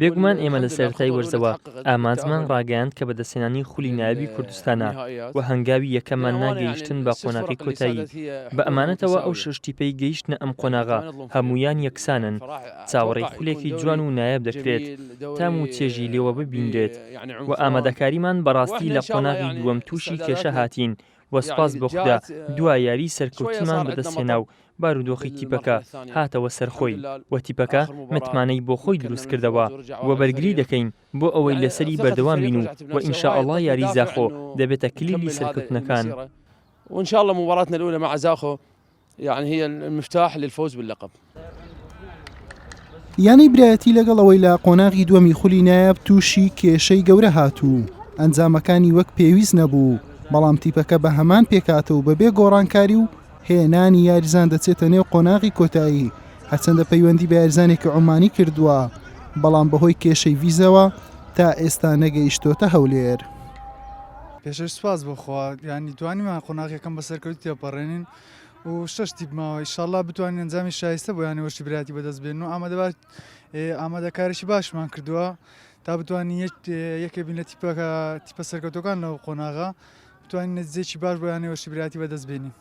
بێگومان ئێمە لە سەرەتای وەرزەوە ئامانجمان ڕاگەیاند کە بەدەستهێنانی خولی نایابی کوردستانە و هەنگاوی یەکەممان نا گەیشتن بە قۆناغی کۆتایی بە ئەمانەتەوە ئەو شەش تیپەی گەیشتنە ئەم قۆناغە هەموویان یەکسانن چاوەڕێی خولێکی جوان و نایاب دەکرێت تام و چێژی لێوە ببینرێت و ئامادەکاریمان بەڕاستی لە قۆناغی دووەم تووشی کێشە هاتین وە سوپاس بۆ خودا دوا یاری سەرکەوتنمان بەدەستهێنا و بارودۆخی تیپەکە هاتەوە سەر خۆی وە تیپەکە متمانەی بۆ خۆی دروست کردەوە وە بەرگری دەکەین بۆ ئەوەی لەسەری بەردەوام بین و وە ان شاء اللە یاری زاخۆ دەبێتە کلیلی سەرکەوتنەکان. یەعنی هی المفتاح للفوز باللقب. یانەی برایەتی لەگەڵ ئەوەی لە قۆناغی دووەمی خولی نایاب تووشی کێشەی گەورە هاتوو ئەنجامەکانی وەک پێویست نەبوو بەڵام تیپەکە بە هەمان پێکاتە و بەبێ گۆڕانکاری و هێنانی یاریزان دەچێتە نێو قۆناغی کۆتایی هەرچەندە پەیوەندی بە یاریزانێکی عمانی کردووە بەڵام بەهۆی کێشەی ویزەوە تا ئێستا نەگەیشتۆتە هەولێر. پێشەوەی سوپاس بۆ خوا یانی توانیمان قۆناغەکەم بە سەرکەوت تێپەڕێنین و شش تیپماوە ئیشاءاللە بتوانین ئەنجامی شایستە بۆ یانەوە شیبراتی بەدەست بێن و ئامادەبات ئامادەکاریشی باشمان کردووە تا بتوانین یەکێ بین لە تیپەکە تیپە سەرکەوتەکان لەو قۆناغا بتوانین نەتیجەیەکی باش بۆ یانەوە شیبراتی بەدەست بێنین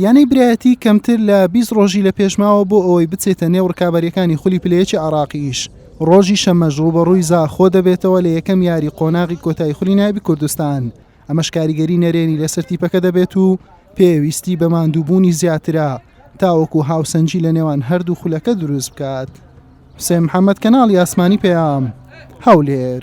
یانەی برایەتی کەمتر لە 20 ڕۆژی لە پێشماوە بۆ ئەوەی بچێتە نێو ڕکابەریەکانی خولی پلەیەکی عراقیش ڕۆژی شەمەش ڕوبەڕووی زاخۆ دەبێتەوە لە یەکەم یاری قۆناغی کۆتای خولی نابی کوردستان ئەمەش کاریگەری نەرێنی لەسەر تیپەکە دەبێت و پێویستی بە ماندووبوونی زیاترە تاوەکو هاوسەنجی لە نێوان هەردوو خولەکە دروست بکات حسێن محەممەد کەناڵی ئاسمانی پەیام هەولێر.